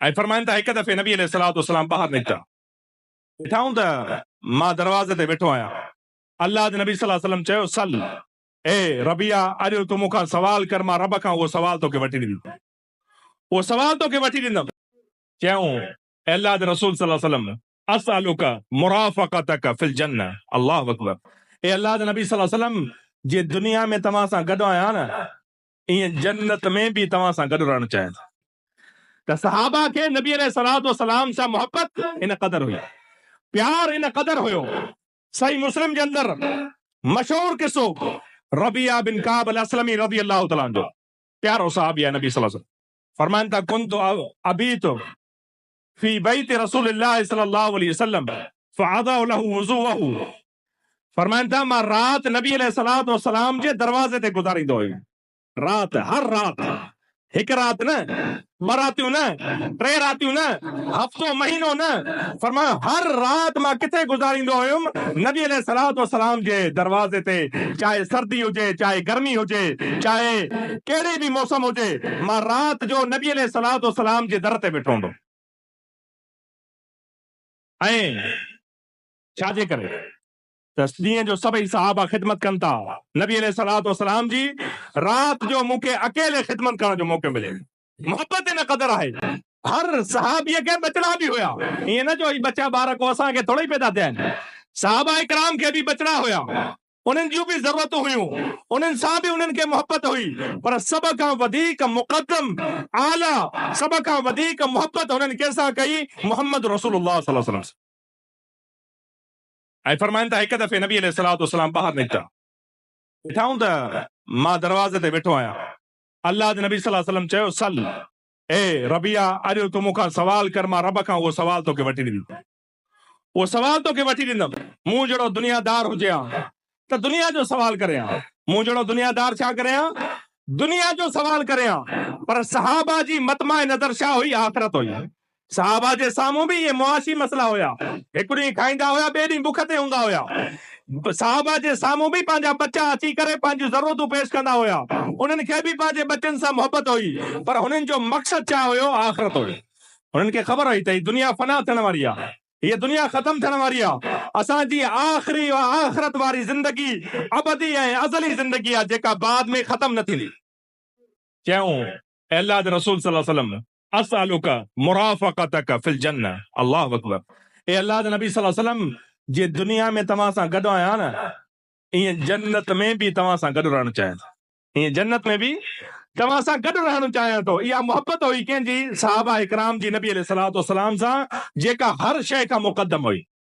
۽ فرمائن ته هڪ دفعي نبي عليه الصلوة والسلام ٻاهر نڪتا، ڏٺائون ته مان دروازي تي ويٺو آهيان، الله جي نبي صلّي الله عليه وسلّم چيو، سل، اي ربيعه اڄ تون مون کان سوال ڪر مان رب کان اهو سوال توکي وٺي ڏيندم، اهو سوال توکي وٺي ڏيندم. چيائون، اي الله جي رسول صلّي الله عليه وسلّم اسألک مرافقتک في الجنّة، الله اڪبر، اي الله جي نبي صلّي الله عليه وسلّم جي دنيا ۾ توهان سان گڏ آهيان نه ائين جنت ۾ به توهان سان گڏ رهڻ چاهيان ٿا ته صحابه کي نبي عليه الصلوة والسلام سان محبت ان قدر هئي پيار ان قدر هيو صحيح مسلم جي اندر مشهور قصو ربيعه بن ڪعب الاسلمي رضي الله تعالٰي عنه جو پيارو صحابي آهي نبي صلي الله عليه وسلم فرمائن ٿا ڪنت ابيت في بيت رسول الله صلي الله عليه وسلم فاضع له وضوءه فرمائن ٿا مان رات نبي عليه الصلوة والسلام جي دروازي تي گذاريندو هيم رات هر رات هڪ رات نه ٻه راتيون نه ٽي راتيون نه هفتو مهينو نه فرمائن هر رات مان ڪٿي گذاريندو هيم نبي عليه الصلوة والسلام جي دروازي تي چاهي سردي هجي چاهي گرمي هجي چاهي ڪهڙي به موسم هجي، مان رات جو نبي عليه الصلوة والسلام جي در تي ويٺو هوندو هئين. ڇا جي ڪري ته ڏينهن جو سڀئي صحابه خدمت ڪن ٿا، نبي عليه الصلوة والسلام جي رات جو مون کي اڪيلي خدمت ڪرڻ جو موقعو ملي. محبت ان قدر آهي. هر صحابي کي ٻچڙا به هيا. ائين نه جو هي ٻچا ٻار ڪو اسان کي ٿورئي پيدا ٿيا آهن. صحابه ڪرام کي به ٻچڙا هيا. انهن جون به ضرورتون هيون، انهن سان به انهن کي محبت هئي، پر سڀ کان وڌيڪ مقدم، اعليٰ، سڀ کان وڌيڪ محبت هنن ڪنهن سان ڪئي؟ محمد رسول الله صلي الله عليه وسلم سان. ۽ فرمائن ٿا، هڪ دفعي نبي عليه الصلوة والسلام ٻاهر نڪتا، ڏٺائون ته مان دروازي تي ويٺو آهيان، الله جي نبي صلي الله عليه وسلم چيو، سل، اي ربيعه، اڄ تون مون کان سوال ڪر، مان رب کان اهو سوال توکي وٺي ڏيندس. اهو سوال توکي وٺي ڏيندم. مون جهڙو دنيا دار هجي ها ته دنيا جو سوال ڪري ها. مون جهڙو دنيا دار ڇا ڪري ها؟ دنيا جو سوال ڪري ها. پر صحابه جي مطمع نظر ڇا هئي؟ آخرت هئي. صحابه جي سامهون به اهي معاشي مسئلا هيا. هڪ ڏينهن کائيندا هيا، ٻئي ڏينهن بک تي هوندا هيا. صحابه جي سامهون به پنهنجا ٻچا اچي ڪري پنهنجون ضرورتون پيش ڪندا هيا. انهن کي به پنهنجي ٻچن سان محبت هئي. پر هنن جو مقصد ڇا هيو؟ آخرت هئي. هنن کي خبر هئي ته هي دنيا فنا ٿيڻ واري آهي، هيء دنيا ختم ٿيڻ واري آهي، اسان جي آخري ۽ آخرت واري زندگي ابدي ۽ ازلي زندگي آهي، جيڪا بعد ۾ ختم نه ٿيندي. چيائون، اي الله جي رسول صلي وسلم اسالک مرافقتک في الجنه، الله اڪبر، اي الله جي نبي صلي وسلم جيئن دنيا ۾ توهان سان گڏ آهيان، ائين جنت ۾ به توهان سان گڏ رهڻ چاهيان ٿو. هيئن جنت ۾ به توهان سان گڏ رهڻ چاهيان ٿو. اها محبت هئي ڪنهن جي؟ صحابه ڪرام جي نبي عليه الصلوة والسلام سان جيڪا هر شيء کان مقدم هئي.